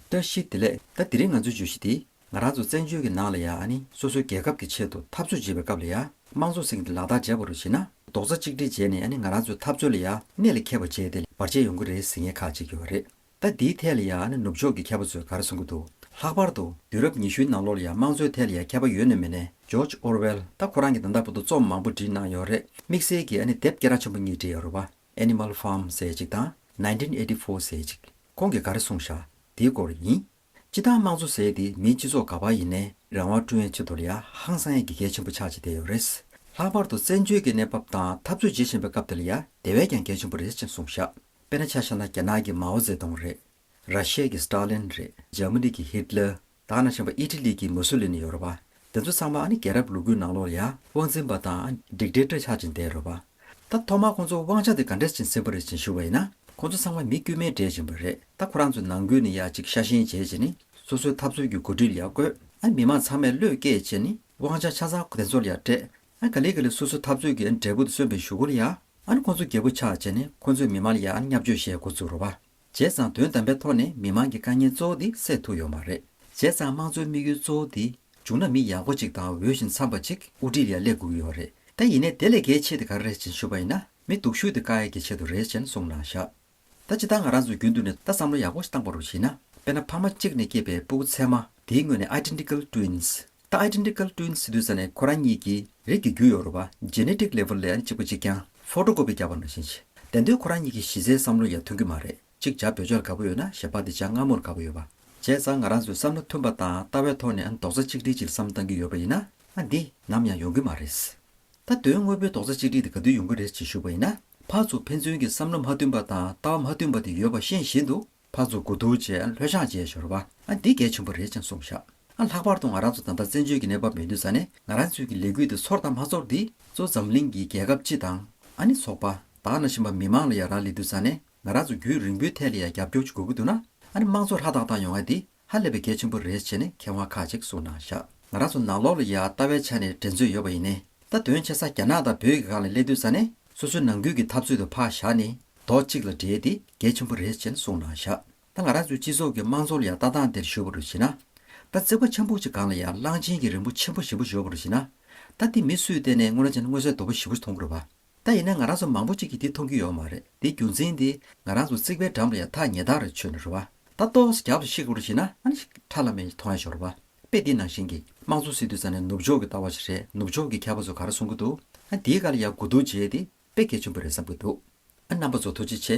བཀྲ་ཤིས་བདེ་ལེགས་ད་འདི་རིང་ང་ཚོའི་བརྗོད་གཞི་དེ་ང་རང་ཚོ་བཙན་བྱོལ་གྱི་ནང་ལ་ཡ་ནི་སོ་སོའི་རྒྱལ་ཁབ་ཀྱི་ཆེད་དུ་འཐབ་རྩོད་བྱེད་པའི་སྐབས་ལ་ཡ་དམངས་ཚོགས་སེང་གི་ལག་རྟགས་འཇལ་བ་རུ་བྱེད་ན་རྡོག་རྩ་གཅིག་སྒྲིལ་བྱས་ནས་ཡ་ནི་ང་རང་ཚོའི་འཐབ་རྩོད་ལ་ཡ་གནད་ལ་འཁེལ་བ་བྱས་ཏེ་བར་ཆད་ཡོང་གི་རེད་ཟེར་མཁན་ཁག་ཅིག་ཡོད་རེད་ད་འདིའི་ཐད་ལ་ཡ་ནི་ནུབ་ཕྱོགས་ཀྱི་མཁས་པ་ཚོས་ག་རེ་གསུང་གི་འདུག་ལྷག་པར་དུ་དུས་རབས་ཉི་ཤུའི་ནང་ལོར་ལ་ཡ་དམངས་གཙོའི་ཐད་ལ་ཡ་མཁས་པ་ཡོད་ནོ་མེད་ནས George Orwell ད་ཁོ་རང་གི་ད་ལྟ་བུ་དུ་རྩོམ་མང་པོ་བྲིས་གནང་ཡོད་རེད་དམིགས་བསལ་གྱི་ཡ་ནི་དེབ་སྐད་ར་ཆེན་པོ་གཉིས་བྲིས་ཡོད་རེད་བ། Animal Farm། ཟེར་ཅིག་དང Nineteen Eighty Four། ཟེར་ཅིག་ཁོང་གིས་ག་རེ་གསུངས་བཞག་དེའི་སྐོར་ཡིན། སྤྱི་བཏང་དམངས་གཙོ་ཟེར་དེ་མིའི་སྤྱི་ཚོགས་ག་བར་ཡིན་ནའི་རང་དབང་བསྐྲུན་ཡའི་ཆེད་དུ་ལ་ཡ་ཧང་སང་ཡའི་དགེ་རྒན་ཆེན་པོ་ཆགས་ཅི་བསྡད་ཡོད་རེད། ལྷག་པར་དུ་བཙན་བྱོལ་གྱི་གནས་བབ་དང་འཐབ་རྩོད་བྱེད་བཞིན་པའི་སྐབས་དེ་ལ་ཡ་དེ་བས་ཀྱང་གལ་ཆེན་པོ་རེད་ཅེས་གསུངས་བཞག་དཔེར་ན་ཆ་བཞག་ན་རྒྱ་ནག་གི་མའོ་ཙེ་ཏུང་རེད། ར་ཤེ་ཡའི་སྟར་ལིན་རེད། འཇར་མ་ནི་གི་ཧིད་ལེར། དག་ན་ཆེན་པ་ཨི་ཏི་ལི་གི་མོ་སོ་ལི་ནི་ཡོ་རོ་པ། དེ་ཚོ་ཚང་མ་ཨ་ནི་རྒྱལ་རབས་ལུ་གུའི་ནང་ལོགས་ལ་ཡང་དབང་འཛིན་པ་དང་སྒྲིག་འགྲེལ་སྤྲོད་ཆགས་ཅིང་བསྡད་རོ་པ། ད་ཐོག་མར་ཁོང་ཚོ་དབང་ཆ་དེ་ག་འདྲས་ཅིང་ཟིན་པ་རེད་ཅིང་ཞུ་བ་ཡིན་ན་ཁོང་ཚོ་ཚང་མ་མི་དཀྱུས་མའི་འདྲེས་ཅིང་པ་རེད་ད་ཁོ་རང་ཚོའི་ནང་ཁུལ་ནི་ཡག་ཅིག་ཤ་ཞེན་བྱེད་ཅིང་ནི་སོ་སོའི་ཐབས་རྩོལ་གྱི་གོ་སྒྲིག་ཡག་དགོས་ཨ་མི་མང་ཚང་མས་བློས་བཀལ་ཅིང་ནི་དབང་ཆ་ཆ་ཚང་དེ་ཚོར་ཡང་སྤྲད་ཨ་ག་ལེ་ག་ལེ་སོ་སོའི་ཐབས་རྩོལ་གྱི་འབྲས་བུ་དེ་གསོན་པའི་ཞུ་སྒོ་ལ་ཡང་ཨ་ནི་ཁོང་ཚོ་རྒྱལ་པོ་ཆགས་ཅིང་ནི་ཁོང་ཚོའི་མི་མང་ལ་ཡང་ཨ་ནི་མཉམ་སྤྱོད་བྱེད་འགོ་བཙུགས་རོ་པ། བྱས་ཙང་དོན་དམ་པའི་ཐོག་ནས་མི་མང་གི་དཀའ་ངལ་གཙོ་བོ་དེ་སེལ་ཐུབ་ཡོད་མ་རེད། བྱས་ཙང་དམངས་གཙོའི་དམིགས་ཡུལ་གཙོ་བོ་དེ་འབྱུང་ན་མི་ཡག་པོ་ཅིག་དང་འོས་ཤིང་འཚམས་པ་ཅིག་དབུ་ཁྲིད་ལ་སླེབས་དགོས་ཀྱི་ཡོད་རེད། ད་ཡིན་ནས་དེ་ལས་གལ་ཆེ་དེ་ག་རེ་རེད་ཅེས་ཞུ་བ་ཡིན་ན་མི་སྡུག་ཤོས་དེ་བཀའ་ཡག་གི་ཆེད་དུ་རེད་ཅེས་གསུངས་གནང་བཞག། ད་ཅི་ད་ང་རང་ཚོས་རྒྱུན་དུ་ནས་ད་བསམ་བློ་ཡག་པོ་ཞིག་བཏང་པ་རུ་བྱེད་ན་དཔེར་ན་ཕ་མ་གཅིག་ནས་སྐྱེས་པའི་སྤུ་གུ་ཚད་མ་དེའི་ངོས་ནས Identical Twins ད Identical Twin སི་ཏུས་ས་ནས་ཁོ་རང་གཉིས་ཀྱི་རིགས་ཀྱི་རྒྱུ་ཡོད་རུང་བ Genetic Level ལ་ཡང་གཅིག་པ་གཅིག་རྐྱང Photo Copy རྒྱག་པ་ནང་བཞིན་བྱེད་བདེན་དོན་ཁོ་རང་གཉིས་ཀྱི་གཞི་རྩའི་བསམ་བློ་ཡང་མཐུན་གྱི་མ་རེད་ཅིག་ཅར་བོད་ཆོས་ལ་དགའ་པོ་ཡོད་ན་ཞེས་པ་འདི་ཅང་སྔ་མོར་དགའ་པོ་ཡོད་པ་བྱས་ཙང་ང་རང་ཚོའི་བསམ་བློ་མཐུན་པ་དང་ལྟ་བའི་ཐོག་ནས་རྡོག་རྩ་གཅིག་སྒྲིལ་གྱིས་བསམ་བཏང་གི་ཡོད་པ་ཡིན་ན། ང་འདི་ནམ་ཡང་ཡོང་གི་མ་རེད། ད་དོན་དངོས་པོའི་རྡོག་རྩ་གཅིག་སྒྲིལ་དེ་ག་དུས་ཡོང་གི་རེད་ཅེས་ཞུ་བ་ཡིན་ན། ཕར་ཚུར་ཕན་ཚུན་གྱི་བསམ་བློ་མ་མཐུན་པ་དང་ལྟ་བ་མ་མཐུན་པ་དེ་ཡོད་པ་ཤེས་བཞིན་དུ། ཕར་ཚུར་དགུ་ཐུག་བཅས་ལྷོད་ཤག་བཅས་ཤོར་བ། ཨ་འདི་གལ་ཆེན་པོ་རེད་ཅེས་གསུངས་ཤག། ཨ་ལྷག་པར་དུ་ང་རང་ཚོ་དམ་པ་བཙན་བྱོལ་གྱི་གནས་བབ་མི་འདོད་ས་ནས་ང་རང་ཚོས་ཀྱི་ལས་འགུལ་དེ་ཚོར་དང་མ་ཚོར་འདི་ཚོ་འཛམ་གླིང་གི་རྒྱལ་ཁབ་སྤྱི་དང། ཨ་ནི་ཚོགས་པ། དག་ན་བཞིན་པ་མི་མང་ལ་ཡ་རང་ལས་འདོད་ས་ནས་ང་རང་ཚོ་རྒྱུན་རིང་པོའི་ཐད་ལ་ཡ་རྒྱབ་སྐྱོར་ཅིག་དགོས་ཀྱི་འདུག་ན། ཨ་ནི་དམངས་གཙོ་ཧྲ་ཐག་ཐག་ཡོང་ཨ་འདི་ཧ་ལས་པའི་གལ་ཆེན་པོ་རེད་བྱས་ནས་མཁས་དབང་ཁག་ཅིག་གསུང་གནང་བཞག། ང་རང་ཚོ་ནང་ལོག་ལ་ཡ་ལྟ་བའི་ཆ་ནས་འགྲན་རྩོད་ཡོད་པ་ཡིན་ནས་ད་དོན་ཆེ་ས་རྒྱ་ནག་དང་བོད་ཀྱི་སྒང་ལ་སླེབས་དུས་ས་ནས་སོ་སོའི་ནང་ཁུལ་གྱི་འཐབ་རྩོད་དུ་འཕག་བཞག་ནས་རྡོག་གཅིག་ལ་འདྲེས་ཏེ་གལ་ཆེན་པོ་རེད་བྱས་ནས་གསུང་གནང་བཞག་ད་ང་རང་ཚོའི་སྤྱི་ཚོགས་ཀྱི་དམངས་གཙོ་ལ་ཡ་ལྟ་སྟངས་དེར་གཞོལ་བ་རུ་བྱེད་ན། ད་བརྩེགས་པ་ཆེན་པོ་གཅིག་སྒང་ལ་ཡ་གླང་ཆེན་གྱི་རིང་པོ་ཆེན་པོ་བཞི་པོ་གཞོལ་བ་རུ་བྱེད་ན། ད་འདི་མི་སུས་བལྟས་ནས་སྔོན་ལ་ཅན་དངོས་གསལ་རྡོ་བུ་བཞི་པོ་མཐོང་དགོས་རེད་པ། ད་ཡིན་ན་ང་རང་ཚོ་མང་པོ་གཅིག་གིས་འདི་མཐོང་རྒྱུ་ཡོད་མ་རེད་འདི་རྒྱུ་མཚན་འདི་ང་རང་ཚོ་རྩིག་པའི་འགྲམ་རེད་ཡ་ཐག་ཉེ་ཐག་རེད་ཆོད་ནི་རེད་བ་ད་ལྟོགས་ས་རྒྱབ་ཏུ་ཤི་གོ་རུ་ཤི་ན་ཨ་ནི་ཁྲ་ལ་མེ་ཡི་ཐོང་ཡ་ཤོག་རེད་བ་དཔེ་འདི་ནང་བཞིན་གི་དམངས་གཙོ་སྲིད་དུ་ས་ནི་ནུབ་ཕྱོགས་ཀྱི་ལྟ་བ་ཞིག་རེད་ནུབ་ཕྱོགས་ཀྱི་མཁས་པ་ཚོ་ག་རེ་གསུང་གི་འདུག་ཨ་འདིའི་ག་ལ་ཡག་གུ་འདུག་བྱས་ཏེ་དཔེ་གལ་ཆེན་པོ་རེད་བསམ་གི་འདུག་ཨ་རྣམ་པ་ཚོ་ཐུགས་རྗེ་ཆེ།